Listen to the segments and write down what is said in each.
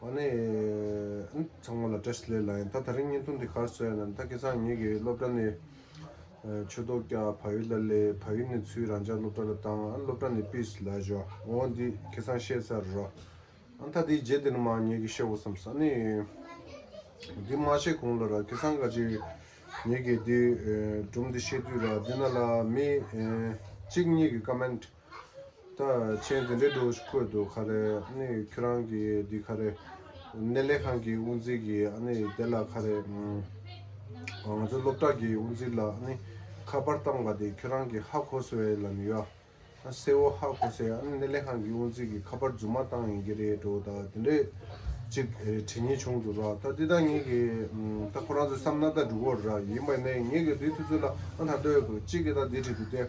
ཨོ་ནེ། ཚང་མ་ལ་བཀྲ་ཤིས་ལེགས་ལ་ཡང་ད་ད་རིང་བརྙན་ཐུང་འདི་གར་བཟོས་ཡོད་ན་ད་ཁེ་ཚང་ངེད་ཀྱི་སློབ་གྲྭ་ནས་ཆོས་ཐོག་རྒྱ་བ་ཡུལ་ལ་ལས་བ་ཡུལ་ནས་ཚུལ་རང་ཅག་སློབ་གྲྭ་ལ་བཏང་ཨ་སློབ་གྲྭ་ནས་པིས་ལ་བཞོ་ཨོ་འདི་ཁེ་ཚང་ཤེས་ཚར་རོ་ཨ་ད་དེའི་རྗེས་དེ་ནི་མ་ངེད་ཀྱི་ཤེས་བོ་བསམས་ཨ་ནེ། འདི་མ་ཤེས་གོང་ལ་ར་ཁེ་ཚང་ག་ཅི་ངེད་ཀྱི་འདི་སྒྲུང་འདི་ཤེས་དུས་ར་འདི་ན་ལ་མི་གཅིག་གཉིས་ཀྱི་ཀ་མེན་ཏྲི་ད་མཆན་དེ་འདྲའི་འགྲོ་བཀོད་འདུག་ག་རེ་ནི་ཁྱོད་རང་གི་འདི་ག་རེ་གནས་ལས་ཁང་གི་དབུ་འཛིན་གི་ཨ་ནི་དེ་ལ་ག་རེ་ང་ཚོའི་སློབ་གྲྭ་གི་དབུ་འཛིན་ལ་ཨ་ནི་ཁ་པར་བཏང་བ་དེ་ཁྱོད་རང་གི་ཧ་གོ་སོས་ལ་ནི་ཡོ་སེ་བོ་ཧ་གོ་སེ་ཨ་ནི་གནས་ལས་ཁང་གི་དབུ་འཛིན་གི་ཁ་པར་རྫུན་མ་བཏང་ཡིན་གྱི་རེད་འགྲོ་ད་དེ་འདྲའི་ཅིག་དྲི་ངེས་བྱུང་འདུག་ར་ད་འདི་ད་ངེད་ཀྱི་ད་ཁོ་རང་ཚོའི་བསམ་ན་ད་འགྲུ་གོ་ར་ཡིན་པ་ནི་ངེད་ཀྱི་དེའི་དུས་ཚོད་ལ་ཨ་ད་ལྟོས་གཅིག་གི་ད་འདི་བྲིས་འདུག་སྟེ།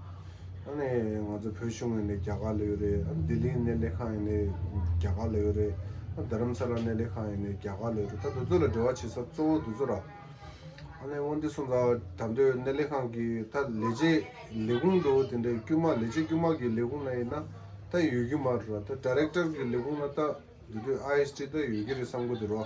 ཨ་ནི་ང་ཚོ་བོད་གཞུང་ཡིན་ནི་རྒྱ་གར་ལ་ཡོད་རེད་ཨ་ནི་ལྡི་ལི་གནས་ལས་ཁང་ཡིན་ནི་རྒྱ་གར་ལ་ཡོད་རེད་ཨ་ནི་རྡ་རམ་ས་ལ་གནས་ལས་ཁང་ཡིན་ནི་རྒྱ་གར་ལ་ཡོད་རེད་ད་འདི་ཚོ་ལ་འབྲེལ་བ་བྱེད་ས་གཙོ་བོ་འདི་ཚོ་ར། ཨ་ནི་དབང་འདུས་སོང་ཙང་ད་འདོད་གནས་ལས་ཁང་གི་ད་ལས་བྱེད་ལས་ཁུངས་འདུག་དེ་འདྲའི་དཀྱུས་མ་ལས་བྱེད་དཀྱུས་མ་གི་ལས་ཁུངས་ན་ཡིན་ན་ད་ཡོད་ཀྱི་མ་རེད་ར་ད Director གི་ལས་ཁུངས་ན་ད་འདི་དུས ISD ད་ཡོད་ཀྱི་རེད་བསམ་གི་འདུག་ར།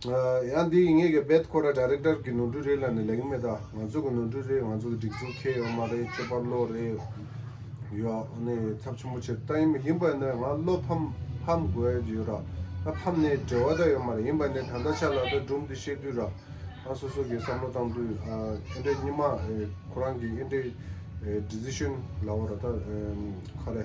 ཡང་འདི་ཡིན་ངེས་ཀྱི་རྦད་ཁོ་ར Director གི་ནོར་འཁྲུལ་རེད་ལ་ནི་ལེགས་མེད་ད་ང་ཚོ་གི་ནོར་འཁྲུལ་རེད་ང་ཚོ་གི་སྒྲིག་འཛུགས་ཁེ་ཡོག་མ་རེད་སྤྱོད་པ་བློ་རེད་ཡོག་ནི་ཚབ་ཆེན་པོ་བྱེད་ད་ཡིན་མི་ཡིན་པ་ནི་ང་བློ་ཕམ་ཕམ་དགོས་ཀྱི་ཡོད་ར་ད་ཕམ་ནི་བྲེལ་བ་ད་ཡོད་མ་རེད་ཡིན་པ་ནི་ད་ད་ཆ་ལ་ད་སྒྲུབ་འདི་བཤད་དུས་ར་ང་སོ་སོ་གི་བསམ་བློ་བཏང་དུས་ཨེ་འདྲ་སྙི་མ་ཁོ་རང་གི་ཨེ་འདྲའི Decision ལ་བ་ར་ད་ཁ་རེ།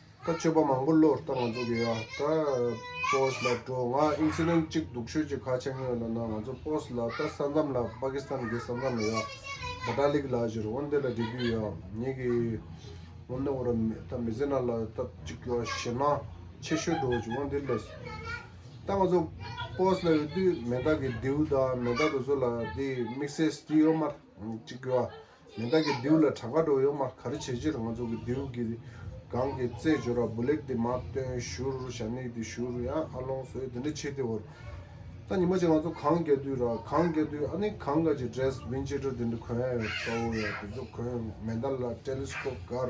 ད་སྤྱོད་པ་མང་པོ་བློར་བཏང་ང་ཚོ་གི་ཡ་ད post ལ་འགྲོ་ང incident གཅིག་སྡུག་ཤོས་གཅིག་ཁ་ཆེ་ངོས་ལ་ན་ང་ཚོ post ལ་ད་ས་མཚམས་ལ Pakistan གི་ས་མཚམས་ལ་ཡ་ད་ད་ལིག་ལ་ཞིར་འོང་དེ་ལ་འགྲིག་གི་ཡ་ཉེ་གི་འོང་ནི་འོང་ར་མི་ད་མི་ཟེར་ན་ལ་ད་གཅིག་ཡོ་ཞེ་ན་ཆེ་ཤོས་འགྲོ་གཅིག་འོང་དེ་ལས་ད་ང་ཚོ post ལ་ཡོད་དུས་མེ་ད་གི་རྡེའུ་ད་མེ་ད་དུ་ཚོ་ལ་དེ་དམིགས་བསལ་སྟི་ཡོ་མར་གཅིག་ཡོ། མེ་མདའ་གྱི་རྡེའུ་ལ་བྲག་དཀར་གྲོ་ཡོས་མར་གར་བྱེད་ཕྱིར་ང་ཚོ་གི་རྡེའུ་གི་སྒང་གི་རྩེད་འཇོར་ར་འབུ་ལེགས་དེ་མ་སྟོན་བཞུར་ཞྭ་སྣེག་དེ་བཞུར་ཡང་ཨ་ལོང་སོའི་དེ་འདྲ་བྱེད་དེ་འོར། ད་ཉི་མ་གཅིག་ང་ཚོ་གངས་རྒྱ་དུས་ར་གངས་རྒྱ་དུས་ཨ་ནི་གངས་དཀར་གྱི་འདྲེས་བིན་ཅི་འདྲ་དེ་འདྲ་གོན་ཡོད་ས་འོ་ཡོད་དེ་ཚོ་གོན་མེ་མདའ་ལ་ཏེ་ལེ་སྐོབ་དཀར་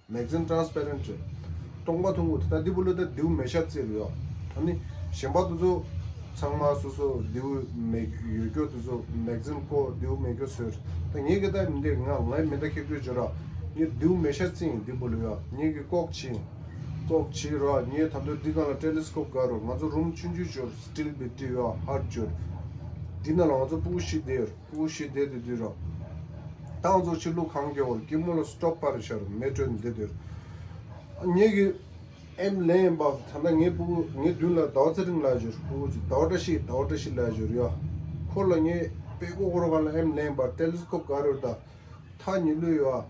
མེག་ཟིན Transparent རེད། སྟོང་པ་ཐུང་ངུ་དེ་དག་འདི་བུ་ལོ་ད་རྡེའུ་མེ་ཤ་བཙིར་ཡོད། ད་ནི་གཞན་པ་དེ་ཚོ་ཚང་མ་སོ་སོ་རྡེའུ་མེ་ཡོད་སྐྱོར་དེ་ཚོ་མེག་ཟིན་ཀོ་རྡེའུ་མེ་སྐྱོར་ཟེར། ད་ངེད་ཀྱི་ད་མི་འདེགས་ང་ངའི་མི་ད་ཁེག་དྲོད་བྱོས་རོགས། ངེད་རྡེའུ་མེ་ཤ་བཙིར་ཡིན་འདི་བུ་ལོ་ཡོད་ངེད་ཀྱི་ཀོག་བྱེད་ཡིན། ཀོག་བྱེད་རོགས་ངེད་ད་དུ་འདི་གང་ལ Telescope དགའ་རོགས་ང་ཚོ་རུམ་ཆུང་ཆུང་བྱོས Still བི་དེ་ཡོད་ཧར་བྱོས། འདི་ན་ལ་ང་ཚོ་སྤུ་གུ་བཞི་བསྡད་ཡོད། དབུ་བཞི་བདེ་དུ་བསྡུས་རོགས། ཏང་ཙུའུ་ཕྱི་ལུགས་གང་མགྱོགས་སྐྱིད་མོ་ལ་སྟོབས་པར་བཞར་མེ་སྤྲོད་འདི་བསྡུར། ངེད་ཀྱི་ཨེམ་ལེ་ཡིན་པ་ད་ལྟ་ངེད་སྤུ་གུ་ངེད་བདུན་ལ་ཟླ་བ་ཚེ་རིང་ལགས་བཞུར་སྤུ་གུ་གཅིག་ཟླ་བ་བཀྲ་ཤིས་ཟླ་བ་བཀྲ་ཤིས་ལགས་བཞུར་ཡོད། ཁོ་ལ་ངེད་དཔལ་སྒོ་སྒོར་ཁང་ལ་ཨེམ་ལེ་ཡིན་པ་ཏེ་ལིས་ཁོབ་ག་རུ་ད་ཐག་ཉི་ལུས་ཡོད།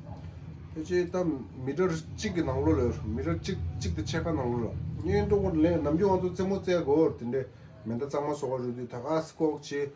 ཕལ་ཆེར་ད་མི་གྲངས་གཅིག་གི་ནང་ལོ་ལ་ཡོད་མི་གྲངས་གཅིག་དང་ཕྱེད་ཀ་ནང་ལོ་ལ། ངེད་ཀྲུང་གོར་ལན་ནམ་རྒྱུན་ང་ཚོ་རྩེད་མོ་རྩེ་དགོས་འོར་དེ་འདྲའི་མེ་མདའ་གཙང་མ་སོགས་རུ་དུས་ད་ག་ཟེ་ལྐོག་བྱེད།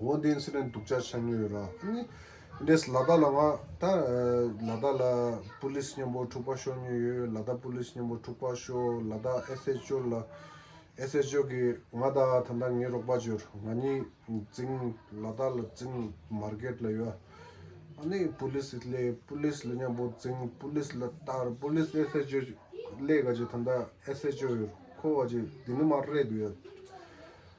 འོ་དེ་ཚོ་ནས་འདུག་ཆ་ཆ་ཉོས་ཡོད་ར་ཨ་ནི་འདྲེས་ལ་དྭགས་ལ་ང་ད་ལ་དྭགས་ལ་པུ་ལིས་མཉམ་པོ་འཁྲུག་པ་ཤོར་ཉོས་ཡོད་ལ་དྭགས་པུ་ལིས་མཉམ་པོ་འཁྲུག་པ་ཤོར་ལ་དྭགས་ཨེས་ཨེས་ཅོ་ལ་ཨེས་ཨེས་ཅོ་གི་ང་ད་ད་ད་ངའི་རོགས་པ་བྱོས་ང་གཉིས་རྫིང་ལ་དྭགས་ལ་རྫིང་མར་གེད་ལ་ཡོད་ཨ་ནི་པུ་ལིས་ཨིས་ལས་པུ་ལིས་ལ་མཉམ་པོ་རྫིང་པུ་ལིས་ལ་དྭགས་པུ་ལིས་ཨེས་ཨེས་ཅོ་ལས་ག་ཅིག་ད་ད་ཨེས་ཨེས་ཅོ་ཡོད་ཁོ་ག་ཅིག་དེ་ནི་མར་རེད་དུ་ཡོད་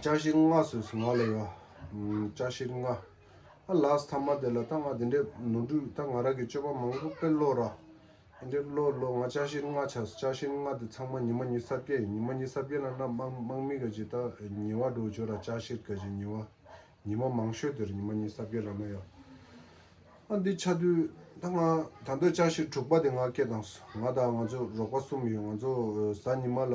བཀྲ་ཤིས་ལྔ་ཟེར་སོང་ང་ལ་ཡ། བཀྲ་ཤིས་ལྔ། ཨ་ལགས་ཐ་མ་དེ་ལ་ད་ང་དེ་འདྲས་ནོར་འཁྲུལ་ད་ང་རང་གི་སྤྱོད་པ་མང་པོ་དཔེར་ཀློག་ར། ཨེ་འདྲས་ཀློག་ཀློག་ང་བཀྲ་ཤིས་ལྔ་ཆགས་སོང་བཀྲ་ཤིས་ལྔ་དེ་ཚང་མ་ཉི་མ་ཉི་ས་བརྒྱད་ཡིན་ཉི་མ་ཉི་ས་བརྒྱད་ལ་ན་དམག་དམག་མི་ག་ཅིག་ད་ཉི་བ་འགྲོ་བྱོས་ར་བཀྲ་ཤིས་ག་ཅིག་ཉི་བ། ཉི་མ་མང་ཤོས་དེར་ཉི་མ་ཉི་ས་བརྒྱད་ལ་ན་ཡ། ཨ་འདི་ཆ་དུས་ད་ང་ད་འདོད་བཀྲ་ཤིས་དྲུག་པ་དེ་ང་སྐྱེས་དང་སོང་ང་དང་ང་ཚོ་རོགས་པ་གསུམ་ཡོད་ང་ཚོ་གཟའ་ཉི་མ་ལ་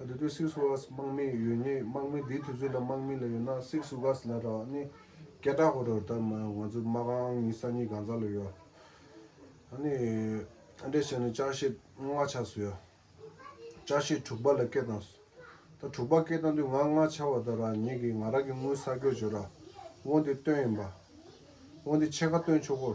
ད་དུས་སིག་སུ་གྷ་སི་དམག་མི་ཡོད་ངེས་དམག་མི་དེའི་དུས་ཚོད་དང་དམག་མི་ལ་ཡོད་ན་སིག་སུ་གྷ་སི་ལ་རག་ནི་སྐད་གྲགས་ཁོ་རོ་ད་མ་ང་ཚོ་དམག་ཨང་གཉིས་ས་གཉིས་གང་ཟག་ལ་ཡོད་ཨ་ནི་ཨ་འདྲས་བྱས་ན་ཅག་ཤེས་ལྔ་ལྔ་ཆགས་སུ་ཡོད་ཅག་ཤེས་དྲུག་པ་ལ་སྐད་བཏང་སུ་ད་དྲུག་པ་སྐད་བཏང་དུས་ང་ལྔ་ཆགས་བ་ད་རག་ཉེས་ཀི་ང་རག་གི་དངུལ་ས་སྐྱོ་བྱོས་ར་དབོ་འདི་སྟོན་ཡིན་པ་དབོ་འདི་ཕྱེད་ཀ་སྟོན་ཆོག་གོ།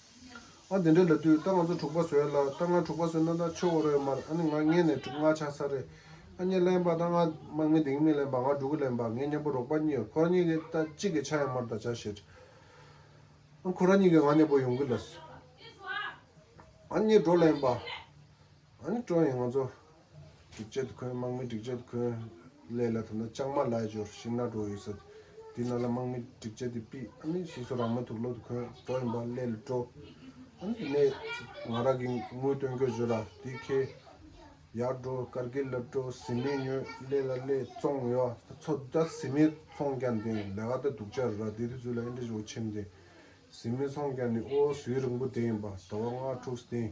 ཨ་འདི་འདྲའི་ལབ་དུས་ད་ང་ཚོ་དྲུག་པ་བཟོས་ལ་ད་ང་དྲུག་པ་བཟོས་ན་ད་ཆོས་རོགས་ཡོད་མར་ཨ་ནི་ང་མངལ་ནས་དྲུག་ལྔ་ཆགས་ས་རེད་ཨ་མྱི་གླེན་པ་ད་ང་དམག་མི་དེང་མི་གླེན་པ་ང་དྲུག་གི་གླེན་པ་ངའི་མྱང་པོ་རོགས་པ་གཉིས་ཁོ་ར་གཉིས་ཀྱི་ད་གཅིག་གི་ཆ་ཡང་མར་ད་བྱ་ཞེས་ཨ་ཁོ་ར་གཉིས་ཀྱི་ང་མྱང་པོ་ཡོང་གི་ལ་སོས་ཨ་མྱི་འགྲོ་གླེན་པ། ཨ་ནི་ཀྲོན་ཡིས་ང་ཚོ་སྒྲིག་ཆས་དུ་འཁོན་དམག་མི་སྒྲིག་ཆས་དུ་འཁོན། ལས་ལ་དོ་ན་ཅང་མ་ལ་ཞོར་ཤིང་ནག་གྲོ་ཡོད་ས། དེ་ན་ལ་དམག་མི་སྒྲིག་ཆས་དེ་པི་ཨ་ནི་ཤིས་སོ་རང་མོས་ཐུགས་བློ་དུ་འཁོན་གྲོ་ཡིན་པ་ལས་ལུས་ཀྲོ། ཨ་ནི་དེ་ནས་ང་ར་གི་དངུལ་སྟོན་གོས་བཞོ་ར་དེ་ཁེ། ཡར་འགྲོ་ཀར་གིལ་ལ་ཀྲོ་ཟི་མི་ཉོས་ལས་ལ་ལས་བཙོང་ཡོ་ཚོ་ད་ཟི་མི་ཚོང་རྒྱ་འདི་ལ་ག་ད་འདུག་ཅ་ར་དེ་དུས་ཚོད་ལ་ཨེ་འདྲ་བཞོ་ཆེམ་དེ། ཟི་མི་ཚོང་རྒྱ་ནི་ཨོ་སུའི་རིང་པོ་དེ་ཡིན་པ་ད་བ་ང་ཕྲུགས་སྟེང་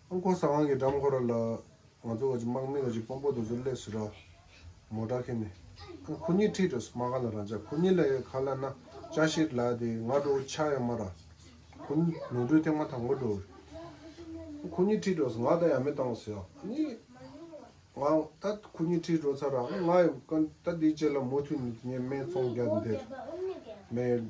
ཨོ་ཁོ་ས་དབང་གི་འགྲམ་ཁོ་ར་ལ། ང་ཚོ་བ་ཅི་དམག་མི་བ་ཅི་དཔོན་པོ་དོ་ཟུར་ལས་སུ་ར། མོ་དྲག་ཁེ་ནི། ཨོ་ཁོ་ཉིད་ཁྲིད་དོ་ཟ་མ་ག་ལ་རང་ཅག་ཁོ་ཉིད་ལ་ཡ་ཁ་ལ་ན་ཅག་ཤེར་ལ་དེ་ང་འགྲོ་བོ་ཆག་ཡ་མ་ར། ཁོ་ཉིད་ནོར་འཁྲུལ་ཐེག་མ་ཐག་ངོ་འགྲོ། ཨོ་ཁོ་ཉིད་ཁྲིད་དོ་ཟ་ང་ད་ཡ་མི་བཏང་བ་ཟ་ཡ་ནི། ང་ད་ཁོ་ཉིད་ཁྲིད་འགྲོ་ཚར་ར་ང་ཡ་ཀ་ད་དེ་བཅད་ལ་མོ་ཐུ་ནི་དེ་ཉེ་སྨད་ཚོང་རྒྱག་འདེར་མེད།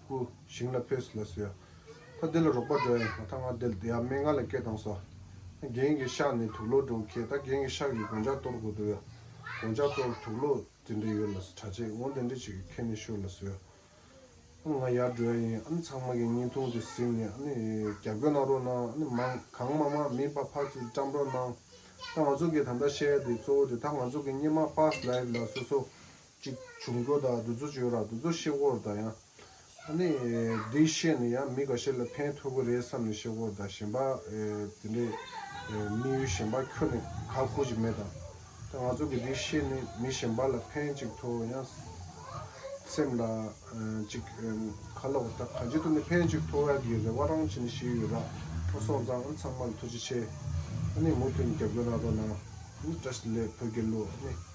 ཧཱུྃ། ཞིང་ལ་ཕོས་སུ་ལ་ཟོས། ད་འདི་ལ་རོགས་པ་འགྲོ་ཡ་ཡིན། ད་ང་འདི་ལ་བསྡད་ཡ་མེད་ང་ལ་སྐད་བཏང་སོ། རྒན་གྱི་ཤག་ནས་དུག་ལོག་འགྲོ་ཁེལ་ད་རྒན་གྱི་ཤག་གི་དགོང་ཇག་གཏོར་དགོས་འདུག་ཡ། དགོང་ཇག་གཏོར་དུག་ལོག་དེ་འདྲས་ཡོད་ལ་ཟོས་གྲྭ་ཆས་ངོ་དེ་འདྲས་བྱེད་གི་ཁྱོད་ནས་ཤོར་ལ་ཟོས། ཨ་ང་ཡར་འགྲོ་ཡ་ཡིན་ཨ་ནི་ཚང་མ་གི་བརྙན་ཐུང་དེ་གཟིགས་ནས་ཨ་ནི་རྒྱབ་སྐྱོར་གནང་རོགས་གནང་ཨ་ནི་མང་གང་མང་མང་མིན་པ་ཕར་ཚུར་བཀྲམ་རོགས་གནང། ད་ང་ཚོ་གི་ད་ལྟ་བཤད་ཡ་དེ་གཙོ་བོ་དེ་ད་ང་ཚོ་གི་སྙེ་མ་ཕཱས་ལའི་ལ་སོ་སོ་གཅིག་བྱུང་སྒོ་དང་བདུད་རྩི་བྱོན་རང་བདུད་རྩི་གཤེད་སྐོར་དང་ཡང། ཨ་ནི། འདི་བཤད་ནས་ཡང་མི་འགའ་ཤས་ལ་ཕན་ཐོགས་ཀྱི་རེད་བསམ་ནས་གཤེད་སྐོར་དང་གཞན་པ། དེ་འདྲའི། དམིགས་ཡུལ་གཞན་པ་ཁྱོ་ནས་ག་བཀུར་གྱི་མེད་དམ། ད་ང་ཚོ་གི་འདི་བཤད་ནས་མི་གཞན་པ་ལ་ཕན་ཅིག་ཐོགས་ཡང། སེམས་ལ། ཅིག། ཁ་ལོག་ད་ག་འཇིག་ཏུ་ནས་ཕན་ཅིག་ཐོགས་ཡ་གི་རེ་བ་རང་བྱེད་ནས་བཤད་ཡོད་ར་ཨ་སོང་ཙང་ཨ་ཚང་མ་ལ་ཐུགས་རྗེ་ཆེ། ཨ་ནི་མུ་མཐུད་ནས་རྒྱབ་སྐྱོར་གནང་རོགས་གནང། ཨ་ནི་བཀྲ་ཤིས་ལེགས་བོད་རྒྱལ་ལོ་ཨ་ནི།